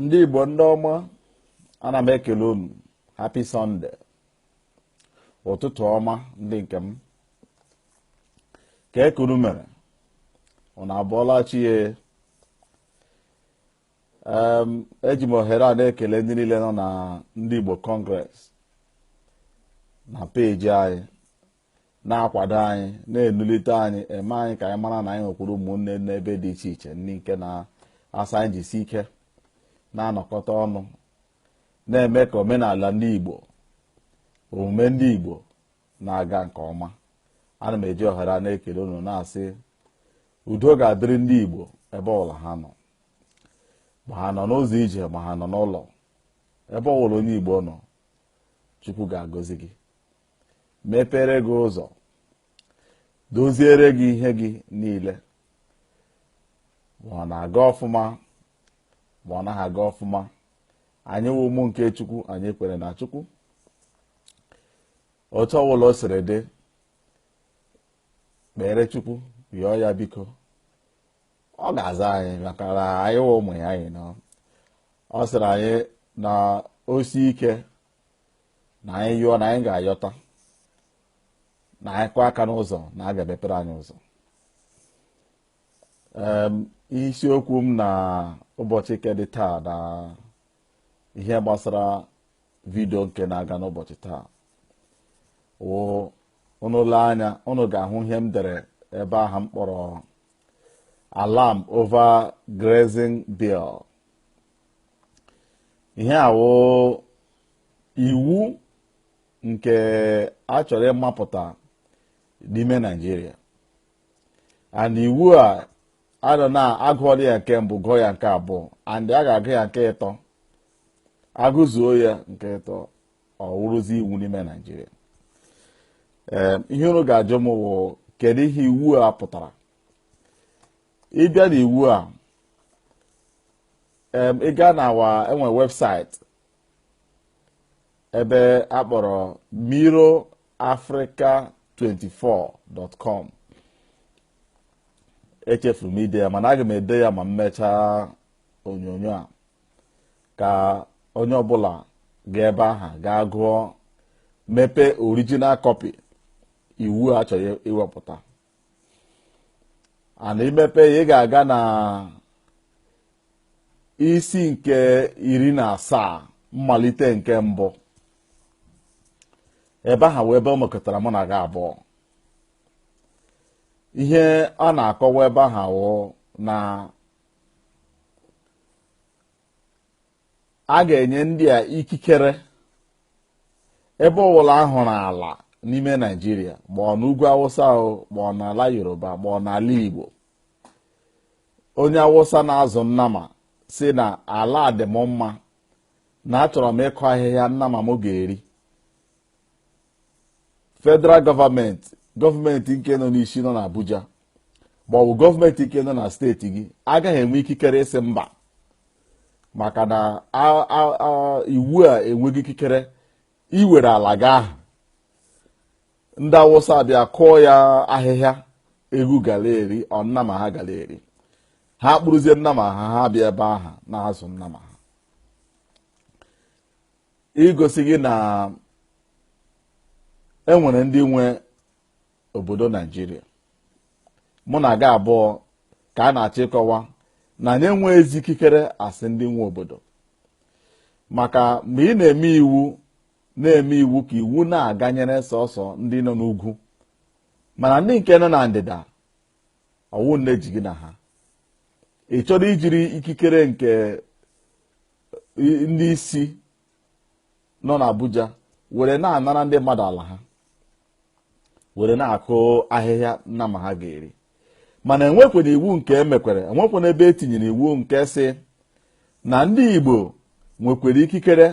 ndị Igbo ndị ọma ana m ekele unu happy Sunday ụtụtụ ọma ndị nke m kee ka unu mere unu abọọla chi e eji m ohere a na-ekele ndị niile nọ na ndị Igbo Congress na peji anyị na-akwado anyị na-enulite anyị eme anyị ka anyị mara na anyị nwekwuru ụmụnne n'ebe dị iche iche ndị nke na-asị anyị jisi ike na-anọkọta ọnụ na-eme ka omenala ndị Igbo omume ndị Igbo na-aga nke ọma ana m eji ohere a na-ekele unu na-asị udo ga-adịrị ndị Igbo ebe ọbụla ha nọ ma ha nọ n'ụzọ ije ma ha nọ n'ụlọ ebe ọbụla onye Igbo nọ Chukwu ga-agọzi gị mepere gị ụzọ doziere gị ihe gị niile ma ọ na-aga ọfụma ma ọ naghị aga ọfụma anyị wụ ụmụ nke chukwu anyị kwere na chukwu otu ọbụla o siri dị kpere chukwu yọọ ya biko ọ ga-aza anyị maka na anyị wụ ụmụ ya anyị nọ ọ sịrị anyị na o sie ike na anyị yọọ na anyị ga-ayọta na anyị kụọ aka n'ụzọ na a ga-emepere anyị ụzọ Em, isiokwu m na ụbọchị nke dị taa na ihe gbasara vidio nke na-aga n'ụbọchị taa wụ unu lee anya unu ga-ahụ ihe m dere ebe aha m kpọrọ alarm over grazing bill ihe a wụ iwu nke a chọrọ ịmapụta n'ime Nigeria and iwu a anọ na a gụọla ya nke mbụ gụọ ya nke abụọ and a ga-agụ ya nke ịtọ a gụzuo ya nke ịtọ ọ wụrụzi iwu n'ime Nigeria ihe unu ga-ajụ m wụ kedu ihe iwu a pụtara ị bịa na iwu a em, ị gaa na our e nwe website ebe a kpọrọ mirrorafrica24.com echefuru m ide ya mana aga m ede ya ma m mechaa onyonyo a ka onye ọbụla gaa ebe aha gaa gụọ mepee original copy iwu a chọrọ iwepụta and i mepee ya ị ga-aga na isi nke iri na asaa mmalite nke mbụ ebe aha wụ ebe ọ mekọtara mụ na gị abụọ ihe a na-akọwa ebe aha wụ na a ga-enye ndị a ikikere ebe ọwụla a hụrụ ala n'ime naijiria ma ọ n'ugwu awụsa o ma ọ n'ala yoruba ma ọ n'ala igbo onye awụsa na-azụ nnama si na ala a dị m mma na achọrọ m ịkụ ahịhịa nnama m ga-eri federal government government nke nọ n'isi nọ n'Abuja ma ọ bụ government nke nọ na steeti gị agaghị enwe ikikere ịsị mba maka na iwu a enweghị ikikere iwere ala gị aha ndị awụsa abịa kụọ ya ahịhịa eghu gara eri ọ nnama ha gara eri ha kpụrụzie nnama ha ha bịa ebe aha na-azụ nnama ha igosi gị na enwere ndị nwe obodo naijiria mụ na gị abụọ ka a na-achọ ịkọwa na anyị enweghị ezi ikikere asị ndị nwe obodo maka mgbe ị na-eme iwu na-eme iwu ka iwu na-aganyere sọsọ ndị nọ n'ugwu mana ndị nke nọ na ndịda ọ wụ nne ji gị na ha ị chọrọ ijiri ikikere nke ndị isi nọ n'Abuja were na-anara ndị mmadụ ala ha were na-akụ ahịhịa nnama ha ga-eri mana enwekwere iwu nke emekwere enwekwere ebe etinyere iwu nke si na ndị Igbo nwekwere ikikere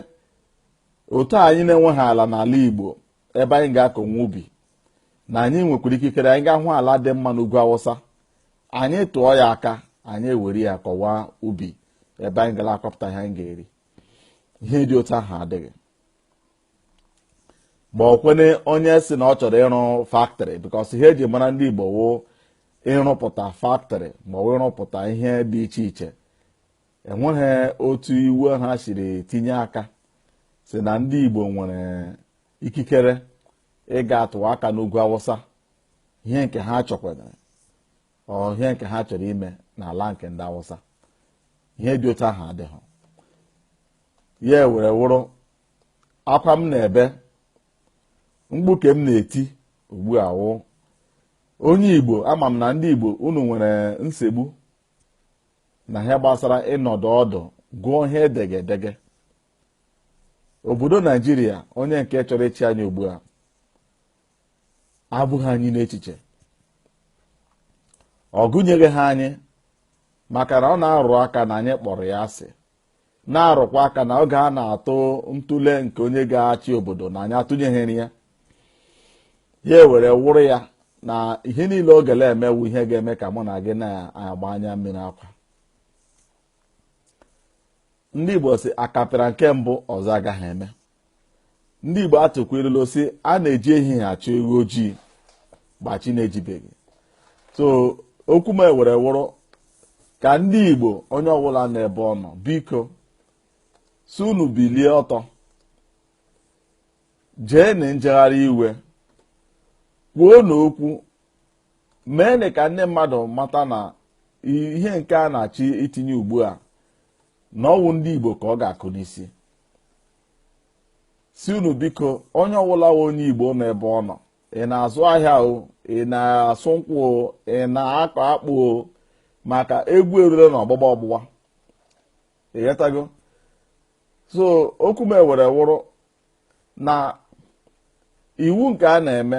otu anyị na-enweghị ala n'ala Igbo ebe anyị ga-akọwa ubi na anyị nwekwara ikikere anyị ga-ahụ ala dị mma n'ugwu awụsa anyị tụọ ya aka anyị ewere ya kọwa ubi ebe anyị gara akọpụta ihe anyị ga-eri ihe dị otu aha adịghị ma ọ kwene onye si na ọ chọrọ ịrụ factory because ihe eji mara ndị Igbo wụ ịrụpụta factory ma ọ wụ ịrụpụta ihe dị iche iche enweghị otu iwu ha siri tinye aka si na ndị Igbo nwere ikikere ịga atụwa aka n'ugwu awụsa ihe nke ha chọkwara ihe nke ha chọrọ ime n'ala nke ndị awụsa ihe dị otu aha adịghị ya were wụrụ akwa m na-ebe mkpu nke m na-eti ugbu a wụ onye igbo ama m na ndị igbo unu nwere nsogbu na ihe gbasara ịnọdụ ọdụ gụọ ihe edege edege obodo naijiria onye nke chọrọ ịchị anyị ugbu a ebughị anyị n'echiche ọ gụnyeghị ha anyị maka na ọ na-arụ aka na anyị kpọrọ ya asị na-arụkwa aka na oge a na-atụ ntụle nke onye ga-achị obodo na anyị atụnyeghịrị ya ya ewere wụrụ ya na ihe niile ọ gele eme wụ ihe ga-eme ka mụ na gị na-agba anya mmiri akwa ndị Igbo sị akapịra nke mbụ ọzọ agaghị eme ndị Igbo atụkwa ilulu sị a na-eji ehihie achọ ewu ojii mgbe chi na-ejibeghị so okwu m ewere wụrụ ka ndị Igbo onye ọbụla na ebe ọ nọ biko sị unu bilie ọtọ jee na njegharị iwe kwuonụ okwu meenụ ka ndị mmadụ mata na ihe nke a na-achọ itinye ugbu a na ọ wụ ndị Igbo ka ọ ga-akụ n'isi sị unu biko onye ọbụla onye igbo nọ ebe ọ nọ ị na-azụ ahịa o ị na-asụ nkwụ o ị na-akọ akpụ o maka egwu erule na ọgbụgba ọgbụgba ị ghọtago so okwu m ewere wụrụ na iwu nke a na-eme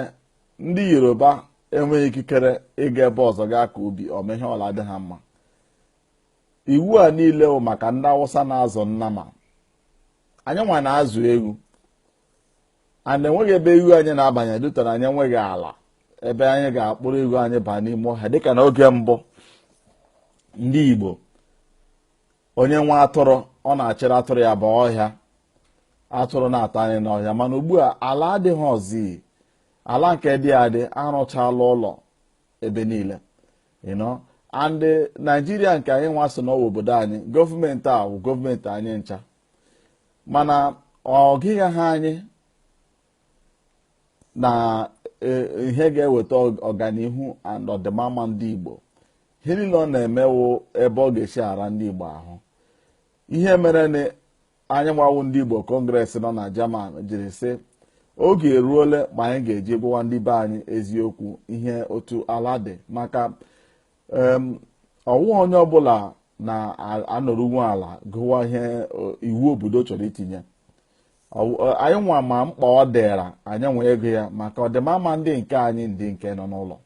ndị yoruba enweghị ikikere ịga ebe ọzọ gaa kọọ ubi ọmịhe ọla dị ha mma iwu a niile bụ maka ndị awụsa na-azụ nnama anyị nwa na-azụ ewu and enweghị ebe ewu anyị na-abanye due to na anyị enweghị ala ebe anyị ga-akpụrụ ewu anyị baa n'ime ọhịa dịka na oge mbụ ndị igbo onye nwe atụrụ ọ na-achịrị atụrụ ya baa ọhịa atụrụ na-ata nni n'ọhịa mana ugbu a ala adịghịzi ala nke dị adị arụchala ụlọ ebe niile you know and eh, naijiria nke anyị nwa sị na ọ wụ obodo anyị gọọmenti a wụ gọọmenti anyị ncha mana ọ gụghị ha anyị na eh, ihe ga-eweta ọganihu and ọdịmama ndị igbo ihe niile ọ na-eme wụ ebe ọ ga-esi ara ndị igbo ahụ ihe mere na anyị nwa wụ ndị Igbo Congress nọ na Germany jiri sị oge eruole ma anyị ga-eji gwawa ndị be anyị eziokwu ihe otu ala dị maka ọ wụghị onye ọbụla na-anọruwe ala gụwa ihe iwu obodo chọrọ itinye anyị nwa ma mkpa ọ dịra anyị wee gụọ ya maka ọdịmama ndị nke anyị ndị nke nọ n'ụlọ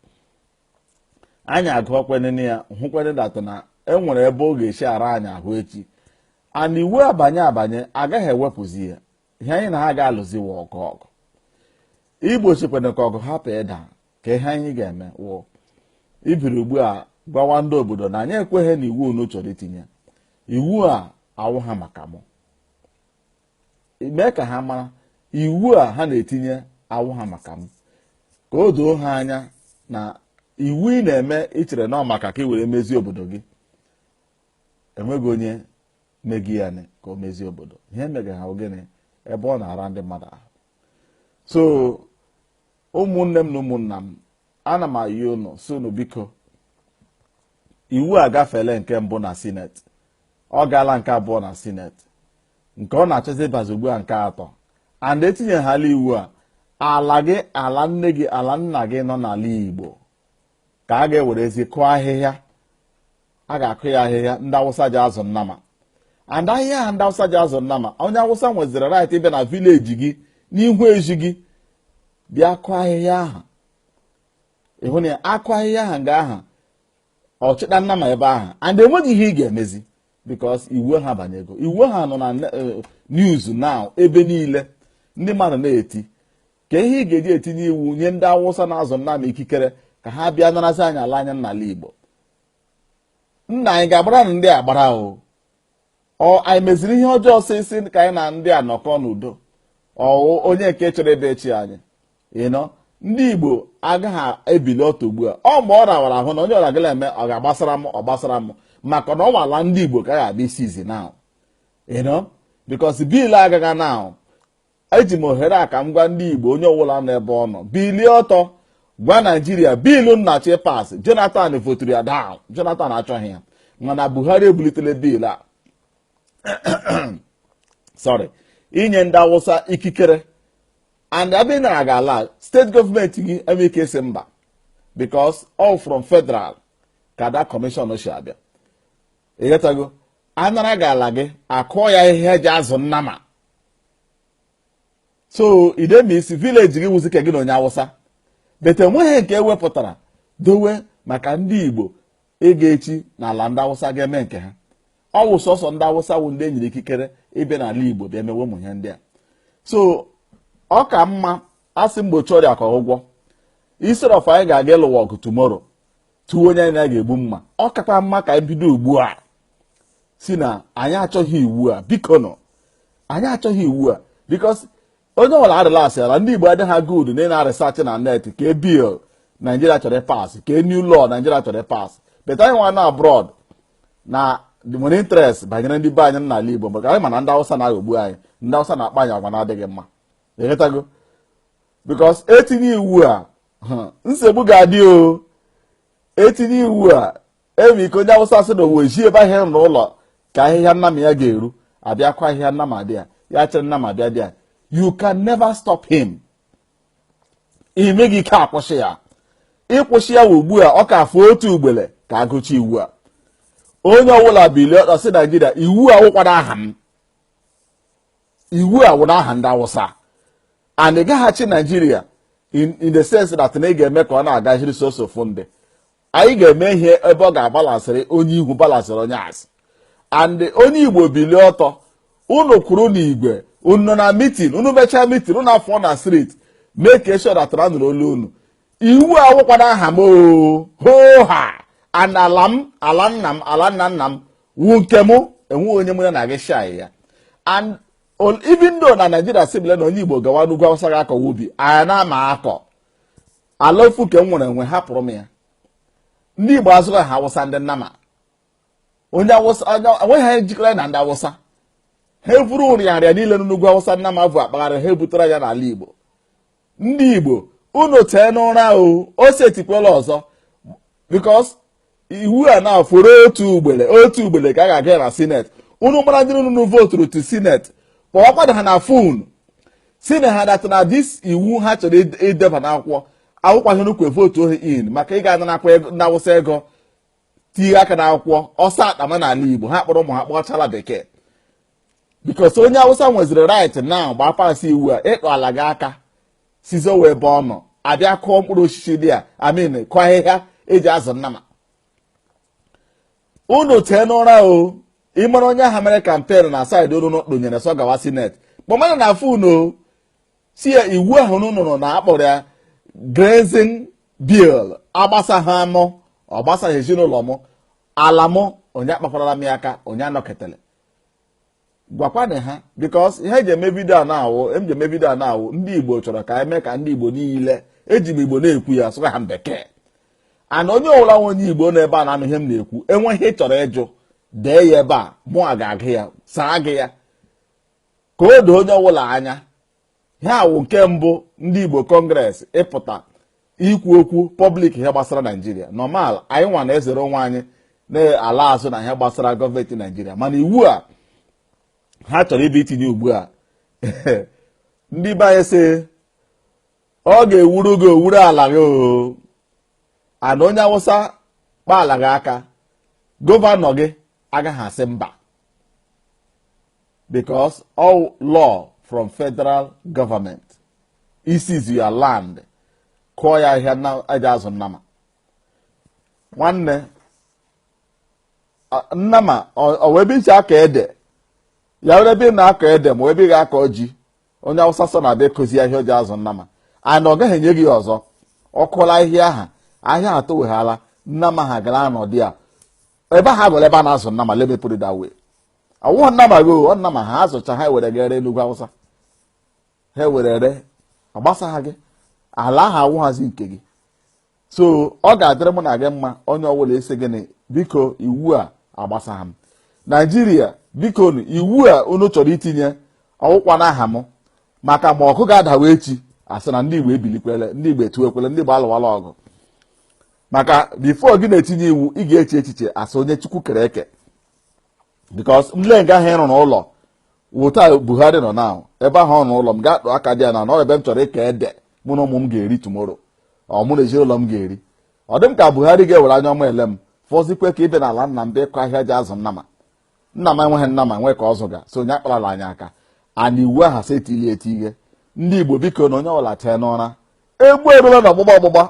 anyị agụọkwanụ ya hụkwanụ that na e nwere ebe ọ ga-esi ara anyị ahụ echi and iwu a banye abanye agaghị ewepụzi ya ihe anyị na ha ga-alụzi wụ ọgụ ọgụ igbochikwana ka ọgụ hapụ ịda ka ihe anyị ga-eme wụ ibiri ugbu a gwawa ndị obodo na anyị ekweghị na iwu unu chọrọ itinye iwu a awụghị maka mụ mee ka ha mara iwu a ha na-etinye awụghị maka m ka o doo ha anya na iwu ị na-eme i chere na ọ maka ka ị were mezie obodo gị enweghị onye megi ya nị ka o mezie obodo ihe mega ha gịnị ebe ọ na-ara ndị mmadụ ahụ so ụmụnne m na ụmụnna m ana m ayọ unu sị unu biko iwu a gafele nke mbụ na senate ọ gaala nke abụọ na senate nke ọ na-achọzi ịbazi ugbu a nke atọ and e tinyehala iwu a ala gị ala nne gị ala nna gị nọ n'ala igbo ka a ga-ewerezi kụọ ahịhịa a ga-akụ ya ahịhịa ndị awụsa ji azụ nnama and ahịhịa a ndị awụsa ji azụ nnama onye awụsa nweziri right ịbịa na village gị n'ihu ezi gị bịa kụọ ahịhịa ahụ ị hụ na akụọ ahịhịa ahụ nga ahụ ọchịta nnama ebe ahụ and enweghị ihe ị ga-emezi because iwu a abanyego iwu a nọ na eh, news now ebe niile ndị mmadụ na-eti ka ihe ị ga-eji etinye iwu nye ndị awụsa na-azụ nnama ikikere ka ha bịa narazi anyị ala anyị n'ala igbo na anyị ga-agbara na ndị agbara o ọ anyị meziri ihe ọjọọ sịsị ka anyị na ndị a nọkọ n'udo ọ wụ onye nke chọrọ ebe echi anyị ịnọ ndị igbo agaghị ebili ọtọ ugbu a ọ mgbe ọ rawara ahụ na onye ọra gala eme ọ ga-agbasara m ọ gbasara m maka na ọ wụ ala ndị igbo ka a ga-abịa seize na ịnọ because bill a agaghị na eji m ohere a ka m gwa ndị Igbo onye ọbụla nọ ebe ọ nọ bilie ọtọ gwa Naijiria bill na-achọ pass Jonathan voturu ya daa Jonathan achọghị ya mana Buhari ebulitele bill a sorry inye ndị Awụsa ikikere and abịa nara gị ala state government agaghị enwe ike sị mba because all from federal ka the commission si abịa ịghọtago anara gị ala gị akụọ ya ihe eji azụ nnama so it means village gị wụzi nke gị na onye awụsa but enweghị nke ewepụtara dowe maka ndị igbo ịga echi n'ala ndị awụsa ga-eme nke ha ọ wụ sọsọ ndị awụsa wụ ndị enyere ikikere ịbịa n'ala igbo bịa mewe ụmụ ihe ndị a so ọ ka mma asị mgbochi ọrịa ka ọgwụgwọ instead of anyị ga-aga ịlụwa ọgụ tomorrow tụọ onye anyị na-ga-egbu mma ọ kakwa mma ka anyị bido ugbu a si na anyị achọghị iwu a bikonụ anyị achọghị iwu a because onye ọbụla arelaxịala ndị Igbo adịghị aga udu na ị na-aresearch na net kee bill Naijiria chọrọ ịpass kee new law Naijiria chọrọ ịpass but anyị nwa na abroad na the money interest banyere ndị be anyị n'ala Igbo maka anyị ma na ndị Awụsa na-aghọgbu anyị ndị Awụsa na-akpa anyị agwa na-adịghị mma ị ghọtago because etinye iwu a nsogbu ga-adị o etinye iwu a enwe ike onye awụsa sị na owe ji ebe ahịa na ụlọ ka ahịhịa nnama ya ga-eri abịa kụọ ahịhịa nnama dị ya ya achịrị nnama abịa dị ya you can never stop him inweghị ike akwụsị ya ịkwụsị ya wụ ugbu a ọ ka afọ otu ugbele ka agụchaa iwu a onye ọbụla bilie sị naijiria iwu a wụkwara aha m iwu a wụ n'aha ndị awụsa and ị gaghị achị naijiria in the sense that na ị ga-eme ka ọ na-agaziri sọsọ ofu ndị anyị ga-eme ihe ebe ọ ga-abalancịrị onye ihu balancịrị onye azụ and onye igbo bilie ọtọ unu kwụrụ n'igwe unu na meeting unu mechaa meeting unu afụọ na street make sure that na anụrụ olu unu iwu a awụkwana aha m hoo ha and ala m ala nna m ala nna nna m wu nke m enweghị onye mụ na ya na-aga ishare ya and even though na naijiria sibile na onye igbo gawa n'ugwu awụsa ga akọ ubi anya na ama akọ ala ofu nke m nwere enwe hapụrụ m ya ndị igbo azụghị ha awụsa ndị nnama onye awụsa enweghị ihe jikọrọ na ndị awụsa ha evuru nrịanrịa niile n'ugwu awụsa nnama bu akpagharị ha ebutere ya n'ala igbo ndị igbo unu tee n'ụra o ọ setikwala ọzọ because iwu a fọrọ otu ugbele otu ugbele ka a ga-agụ na senate unu mara ndị unu voturu to senate kpọwakwanụ ha na phone sịnụ ha that na this iwu ha chọrọ ideba n'akwụkwọ awụkwa ihe unu ji votuo ha in maka ịga ananakwa na awụsa ego tinye aka n'akwụkwọ ọsọ agbama n'ala igbo ha akpọrọ ụmụ ha kpọchala bekee because onye awụsa nweziri right na mgbe a passị iwu a ịtụ ala gị aka sị ọ wụ ebe ahụ abịa kụọ mkpụrụ osisi dị ya I mean kụọ ahịhịa eji azụ nnama unu tee n'ụra o ịmara onye ahụ mere campaign na side unu kpụnyere sọ gawa senate kpọmanụ ya na phone unu sị ya iwu ahụ unu nụrụ na akpọrọ ya grazing bill agbasaghị anyị ọ gbasaghị ezinụlọ m ala m onye akpakwarala m ya aka onye anọketele gwakwanụ ha because ihe eji eme video a na-awụ eji eme video a na-awụ ndị igbo chọrọ ka eme ka ndị igbo niile eji m igbo na-ekwu ya asụghị ya na bekee and onye ọwụla wụ onye igbo nọ ebe a na-anụ ihe m na-ekwu enwee ihe ị chọrọ ịjụ dee ya ebe a mụ a ga-agụ ya saa gị ya ka o doo onye ọwụla anya ihe a wụ nke mbụ ndị Igbo kọngres ịpụta ikwu okwu pọblik ihe gbasara naijiria nọmal anyị nwa na-ezere onwe anyị na-ala azụ na ihe gbasara gọọmenti naijiria mana iwu a ha chọrọ ịbịa itinye ugbu a ndị be anyị sị ọ ga-ewuru gị owuru ala gị oo and onye awụsa kpaala gị aka gọvanọ gị agaghị asị mba because ọ law from federal government e seize your land kụọ ya ahịhịa na eji azụ nnama nwanne a- nnama ọ wụ ebe i ji akọ ede ya wụrụ ebe ị na-akọ ede ma ebe ị ga-akọ ji onye awụsa sọ na-abịa akọzi ya ahịhịa o ji azụ nnama and ọ gaghị enye gị ya ọzọ ọ kụọla ahịhịa aha ahịhịa aha toweghala nnama ha ga na-anọ dị ya ebe aha aghọla ebe a na-azụ nnama let me put it that way awụghị nnama gị o ọ nnama ha azụcha ha were ere n'ugwu awụsa ha were ere agbasaha gị ala ahụ awụghazi nke gị so ọ ga-adịrị mụ na gị mma onye ọbụla sị gịnị biko iwu a agbasaha m naijiria biko iwu a unu chọrọ itinye ọwụkwa n'aha m maka ma ọgụ ga-adawa echi asị na ndị igbo ebilikwele ndị igbo etuwekwele ndị igbo alụwala ọgụ maka bifo gị na-etinye iwu ị ga-eche echiche asị onye chukwu kere eke because m lee nga ha rụrụ ụlọ wụta Buhari nọ na ebe ha rụrụ ụlọ m ga-akpụ aka dị ya na nọ ebe m chọrọ ịka ede mụ na ụmụ m ga-eri tumoro ọ mụ na ezinụlọ m ga-eri ọ dị m ka Buhari ga-ewere anya ọma ele m fọzikwe ka ịbịa n'ala nna m bịa ịkọ ahịhịa e ji azụ nnama nna m enweghị nnama nwee ka ọ zụga so onye akparala anyị aka na iwu aha si etili eti ihe ndị Igbo biko na onye ọbụla tee n'ụra egwu erula na ọgbụgba ọgbụgba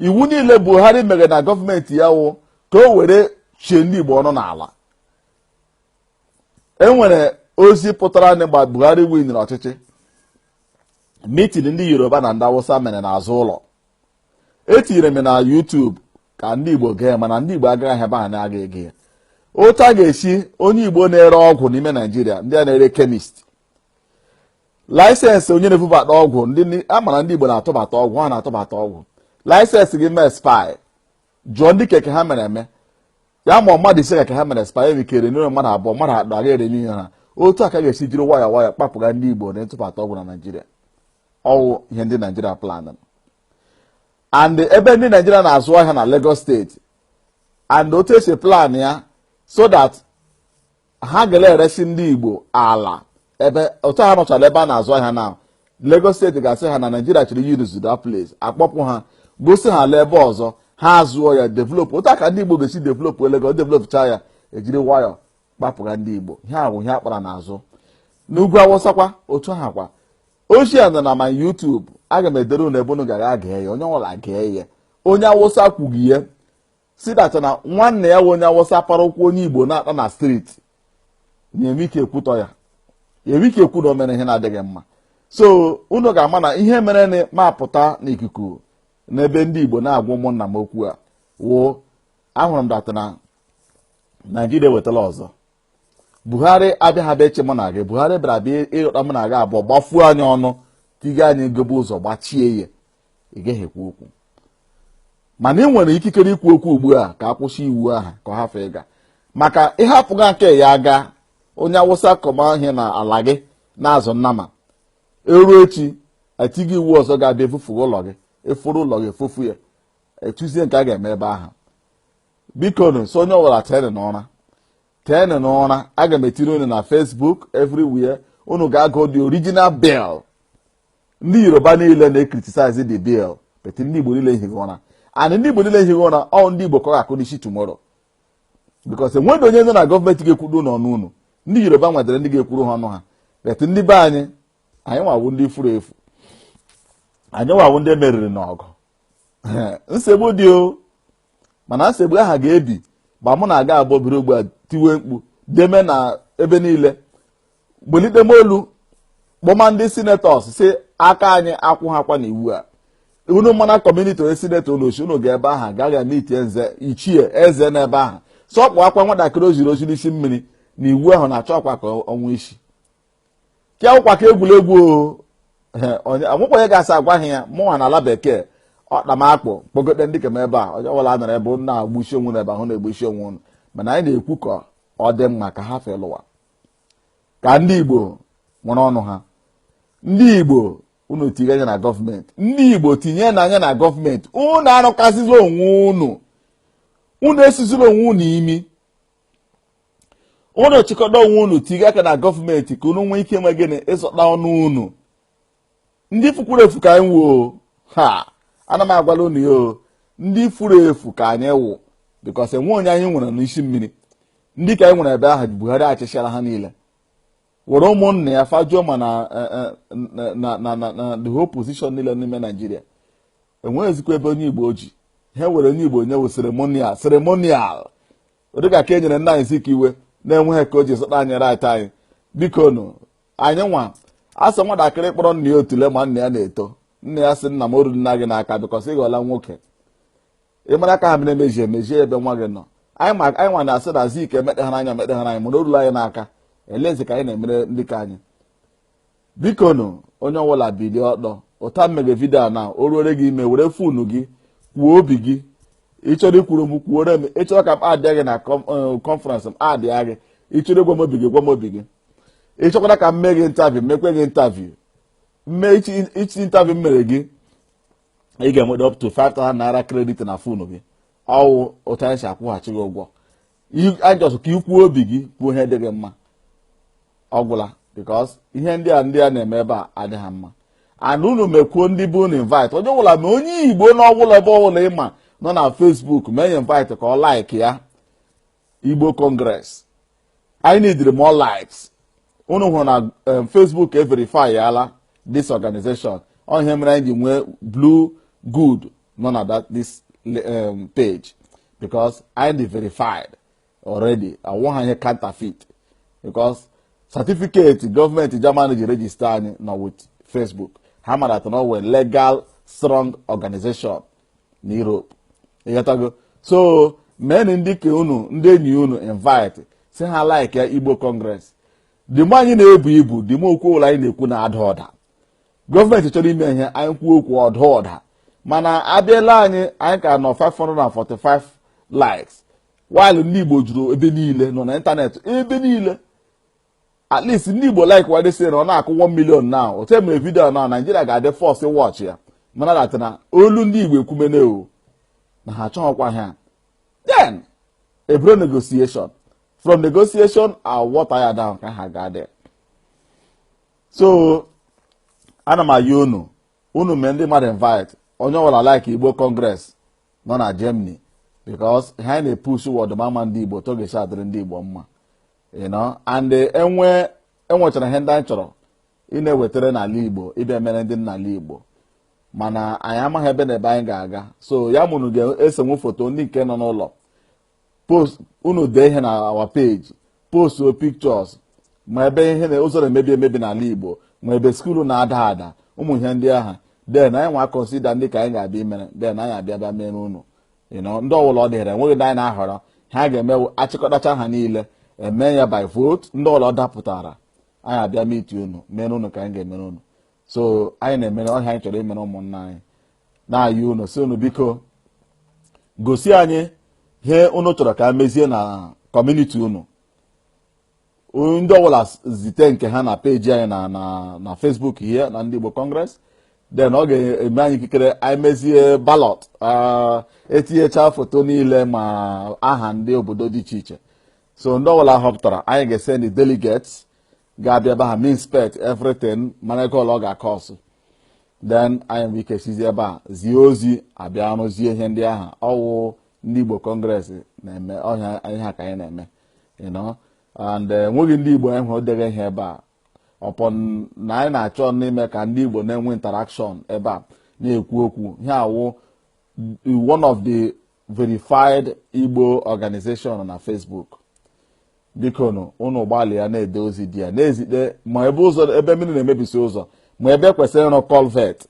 iwu niile buhari mere na gọọmenti ya wụ ka o were chie ndị igbo ọnụ n'ala enwere ozi pụtara na mgbe buhari winiri ọchịchị mitin ndị yoruba na ndị awụsa mere n'azụ ụlọ etinyere m na yutubu ka ndị igbo gee mana ndị igbo agaghị ebe a na-aga ege ya otu a ga-esi onye igbo na-ere ọgwụ n'ime naijiria ndị a na-ere kemist laịsensị onye na-ebubata ọgwụ ndị a mara ndị Igbo na-atụbata ọgwụ ha na-atụbata ọgwụ laịsensị gị mee expire jụọ ndị nke ha mere eme ya ma mmadụ ise nke ha mere expire enwe ike erenewrụ mmadụ abụọ mmadụ atọ aga erenew ha otu a ka a ga-esi jiri waya waya kpapụga ndị Igbo na ntụbata ọgwụ na Naịjirịa ọwụ ihe ndị Naịjirịa planụ and ebe ndị Naịjirịa na-azụ ahịa na Lagos steeti and otu esi plan ya so that ha gara eresi ndị Igbo ala ebe otu ha nọchara ebe a na-azụ ahịa na Lagos steeti ga-asị ha na Naijiria chọrọ iyuzu the place akpọpụ ha gosi ha ala ebe ọzọ ha zụọ ya developụ otu ka ndị Igbo ga-esi developụ Lagos developụcha ya ejiri nwayọọ kpapụga ndị Igbo ihe ahụ ihe akpara n'azụ n'ugwu awụsakwa otu ha kwa ochie nọ na my YouTube aga m edere unu ebe unu gara gee ya onye ọbụla gee ya onye awụsa kwughị ya si that na nwanne ya wụ onye awụsa para ụkwụ onye igbo na-akpụ na street enweghị ike ikwutọ ya enweghị ike ikwu na o mere ihe na-adịghị mma so unu ga-ama na ihe mere na m apụta n'ikuku n'ebe ndị igbo na-agwa ụmụnna m okwu a wụ ahụrụ m that na naijiria ewetala ọzọ buhari abịaghị abịa ịchị mụ na gị buhari bịara abịa ịghọta mụ na gị abụọ gbafuo anyị ọnụ tiga anyị gobe ụzọ gbachie ya ị gaghị ekwu okwu mana ị nwere ikikere ikwu okwu ugbu a ka akwụsị iwu ahụ ka ọ hafụ ịga maka ị hafụga nke ya aga onye awụsa kọma ihe n'ala gị na-azụ nnama eruo echi etie iwu ọzọ ga-abịa efufu ụlọ gị efuru ụlọ gị efufu ya etuzie nke a ga-eme ebe ahụ biko nu so onye ọbụla teenụ n'ụra teenụ n'ụra aga m etiri unu na Facebook everywhere unu ga-agụ the original bill ndị yoruba niile na-ekritisize the bill but ndị igbo niile ehigha ụra and ndị igbo niile ehigha ụra ọ ndị igbo ka ọ ga-akụ n'isi tomorrow because enweghị onye nọ na gọọmenti ga-ekwudo n'ọnụ unu ndị yoruba nwadere ndị ga-ekwuru ha ọnụ ha but ndị be anyị anyịnwa wụ ndị furu efu anyịnwa wụ ndị e meriri n'ọgụ nsogbu dị o mana nsogbu ahụ ga-ebi ma mụ na gị abụọ biri ugbu a tiwe mkpu deme na ebe niile gbolite m olu kpọma ndị sinetọs sị aka anyị akwụhakwa n'iwu a unu mana kọmuniti onye sinetọ unu si unu gaa ebe ahụ gaghị eme itie nze ichie eze n'ebe ahụ sị ọ kpọọkwa nwatakịrị o ziri ozi n'isi mmiri na iwu ahụ na-achọkwa ka o nwee isi nke a awụkwa ka egwuregwu enwekwa onye ga-asị agwaghị ya mụnwa nọ ala bekee ọkpa m akpụ kpọgote ndị ke m ebe a onye ọbụla nọrọ ebe na agbusi onwe na ebe ahụ na-egbusi onwe unu mana anyị na-ekwu ka ọ dị mma ka ha felụwa ka ndị Igbo nwere ọnụ ha ndị Igbo unu tinye anya na gọọmenti ndị Igbo tinyenụ anya na gọọmenti unu arụkasịzila onwe unu unu esizila onwe unu imi unu chịkọta onwe unu tiga aka na gọọmenti ka unu nwee ike mee gịnị ịzọta ọnụ unu ndị fukwuru efu ka anyị wụ o ha ana m agwala unu ya o ndị furu efu ka anyị wụ because enweghị onye anyị nwere n'isi mmiri ndị ke anyị nwere ebe ahụ Buhari chụchara ha niile were ụmụnna ya fajuo ma na eh, eh, the whole position niile n'ime Naijiria enweghịzikwa ebe onye Igbo ji ha were onye Igbo nye wụ ceremonial ceremonial dịka ka e nyere nna anyị Zik iwe na-enweghị ka o ji zọta anyị right anyị biko nụ anyị nwa a sị nwatakịrị kpọrọ nna ya otule ma nna ya na-eto nna ya sị nna m oruna gị n'aka because ị ghọla nwoke ị mara ka ha mere emeji emejie ebe nwa gị nọ anyị nwa na-asị na Zik emekpeghara anya emekpeghara anyị mana orula anyị n'aka e lezie ka anyị na-emere ndị ka anyị bikonu onye ọbụla bilie ọtọ otu a m mega vidio a na o ruore gị ime were fonu gị kwuo obi gị ị chọrọ ikwuru m kwuore m ị chọrọ ka m add gị na conference eh, m add gị ị chọrọ ịgwa m obi gị gwa m obi gị ị chọkwara ka m mee gị interview mekwe gị interview mme each interview m mere gị ị ga-enweta up to 5000 naira credit na fonu gị ọ wụ otu a anyị si akwụghachi gị ụgwọ just ka i kwuo obi gị kwuo ihe dị gị mma ọ gwụla because ihe ndị a ndị a na-eme ebe a adịghị mma and unu mekwuo ndị be unu invite onye ọbụla ma onye igbo na ọbụla ebe ọbụla ị ma nọ na Facebook mee ya invite ka ọ like ya igbo congress anyị needịrị more likes unu hụrụ na eh, Facebook e verifyala this organization ọ ihe mere anyị ji nwee blue good nọ na that this um, page because anyị dị verified already awụha ihe counterfeit because certificate gọọmenti Germany ji register anyị nọ with Facebook ha mara na ọ wụ a legal strong organization na Europe ị ghọtago so mee nụ ndị ka unu ndị enyi unu invite sị ha like ya Igbo Congress the more anyị na-ebu ibu the more okwu ọbụla anyị na-ekwu na-ada ụda gọọmenti chọrọ ime ihe anyị kwuo okwu ọ daa ụda mana abịala anyị anyị ka nọ 545 likes while ndị Igbo juru ebe niile nọ na ịntanetị ebe niile at least ndị Igbo like wade sị na ọ na-akụ 1 million na otu e mere vidio na Naijiria ga-adị forced watch ya mara that na olu ndị Igbo ekwumene o na ha achọghịkwa ha then e buru negotiation from negotiation a water ya down ka ha ga-adị so ana m ayọ unu unu mee ndị mmadụ invite onye ọbụla like igbo congress nọ na germany because ihe anyị na-epursue wụ ọdịmma ndị igbo otu ọ ga-esi adịrị ndị igbo mma you know and enwe enwechara ihe ndị anyị chọrọ ị na-ewetara n'ala igbo ịbịa mere ndị n'ala igbo mana anyị amaghị ebe na ebe anyị ga-aga so ya wụ unu ga-esewe foto ndị nke nọ n'ụlọ post unu dee ihe na our page postuo pictures ma ebe ihe na ụzọ na-emebi emebi n'ala Igbo ma ebe school na-ada ada ụmụ ihe ndị ahụ then anyị nwa consider ndị ka anyị ga-abịa imere then anyị abịa bịa mere unu ndị ọbụla ọ dịghịra enweghị ndị anyị na-ahọrọ ihe a ga-eme a chịkọtachaa ha niile e mee ya by vote ndị ọbụla ọ dapụtara anyị abịa meet unu mere unu ka anyị ga-emere unu so anyị na-emere ọ ihe anyị chọrọ imere ụmụnna anyị na-ayọ unu sị unu biko gosi anyị ihe unu chọrọ ka e mezie na community unu ndị ọbụla zite nke ha na peji anyị na na na Facebook here na Ndị Igbo Congress then ọ ga-eme anyị ikikere anyị mezie balọt etinyecha foto niile ma aha ndị obodo dị iche iche so ndị ọbụla a họpụtara anyị ga-esendi delegates ga-abịa ebe ahụ inspect everything mara ego ole ọ ga-akọsụ then anyị nwere ike sizi ebe a zie ozi a bịa rụzie ihe ndị ahụ ọ wụ Ndị Igbo Congress na-eme ọ ihe a ka anyị na-eme you know and eh, enweghị ndị Igbo anyị hụrụ dere ihe ebe a upon na anyị na-achọ ime ka ndị Igbo na-enwe interaction ebe a na-ekwu okwu ihe a wụ one of the verified Igbo organization na Facebook bikonu unu gbalịa na-ede ozi dị ya na-ezite ma ebe ụzọ ebe mmiri na-emebisi ụzọ ma ebe kwesịrị ịrụ culvert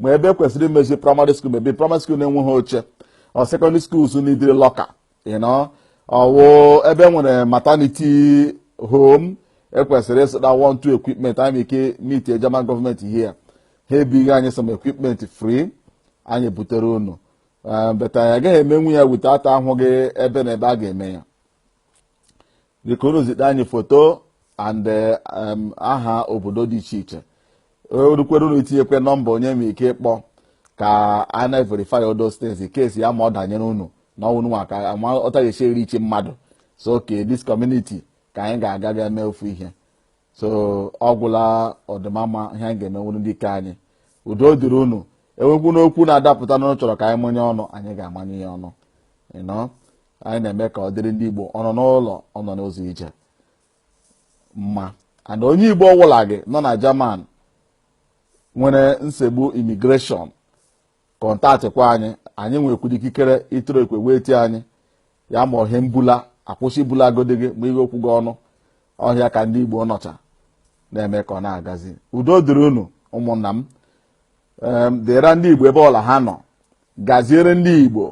ma ebe kwesịrị imezi primary school maybe primary school na-enweghị oche or secondary school so n'idiri local you know ọ wụ ebe e nwere maternity home e kwesịrị ịzụta one two equipment anyị ike meet German government here ha ebinye anyị some equipment free anyị ebutere unu Ah, but anyị agaghị emenwu ya without ahụghị ebe na ebe a ga-eme ya biko unu zite anyị foto and eh, em, aha obodo dị iche iche o rukwere unu itinyekwa nọmba onye ma ike ịkpọ ka a na-verify all those things in case ya ma ọ danyere unu na ọ wụ unuwa ka a ma otu a ga-esi eriichi mmadụ so okay this community ka anyị ga-aga ga mee ofu ihe so ọ gwụla ọdịmama ihe anyị ga-emenwuru ndị nke anyị udo dịrị unu e nwekwanụ okwu na-adapụta unu chọrọ ka anyị manye ọnụ anyị ga-amanye ya ọnụ you know anyị na-eme ka ọ dịrị ndị Igbo ọ nọ n'ụlọ ọ nọ n'ụzọ ije mma and onye Igbo ọwụla gị nọ na German nwere nsogbu immigration kọntaktịkwa anyị anyị nwekwara ikikere ịtụrụ ekwe wee tie anyị ya ma ọ ihe mbula a kwụsị ibulagodi gị ma ihe okwu gị ọnụ ọ ihe a ka ndị Igbo nọcha na-eme ka ọ na-agazi udo dịrị unu ụmụnna m dịrị ndị Igbo ebe ọla ha nọ gaziere ndị Igbo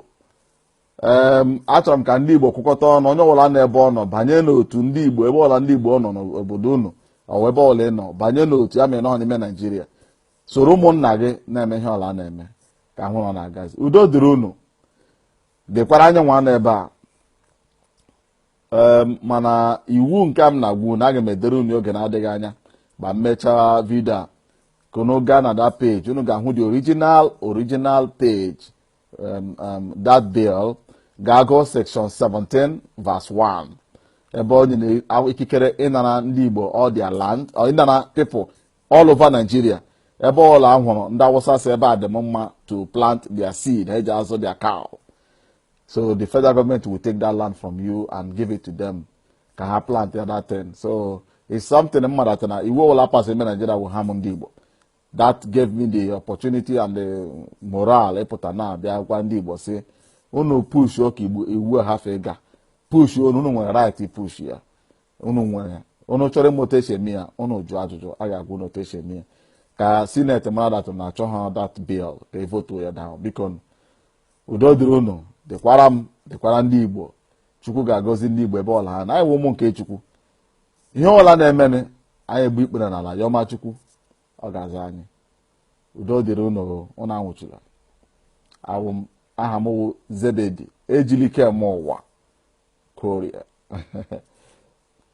ee achọrọ m ka ndị Igbo kwụkọta ọnụ onye ọbụla na ebe ọ nọ banye n'otu ndị Igbo ebe ọla ndị Igbo nọ n'obodo unu ọwa ebe ọla ị nọ banye n'otu ya mere na ọ n'ime Naijiria soro ụmụnna gị na-eme ihe ọla a na-eme ka a hụ ọ na-agazi udo dịrị unu dịkwara anyịnwa nọ ebe a mana iwu nke m na-agwa unu aga m edere unu oge na-adịghị anya ma m mechaa vidio a ka unu gaa na that page unu ga-ahụ the original original page that bill gaa gụọ section 17 verse 1 ebe o nyere ikikere ịnara ndị Igbo all their land ịnara people all over Nigeria ebe ọla a hụrụ ndị awụsa sị ebe a dị mma to plant their seed ha eji azụ their cow so the federal government will take that land from you and give it to them ka ha plant ya that thing so it's something mmadụ na iwu ọbụla pass ime Nigeria bụ ha m ndị Igbo that gave me the opportunity and the morale ịpụta na abịa gwa ndị Igbo sị unu push oke iwu ha ga push unu unu nwere right push ya unu nwere unu chọrọ ịma otu esi eme ya unu jụọ ajụjụ a ga-agwa unu otu esi eme ya ka senate mara that unu achọha that bill ka e votuo ya down biko udo dịrị unu dịkwara m dịkwara ndị igbo chukwu ga-agọzi ndị igbo ebe ọla ha nọ anyị wụ ụmụ nke chukwu ihe ọla na-emenụ anyị egbuo ikpere n'ala yọma chukwu ọ ga-aza anyị udo dịrị unu unu anwụchula awụ m aha m wụ zebedi ejilikemụwa koria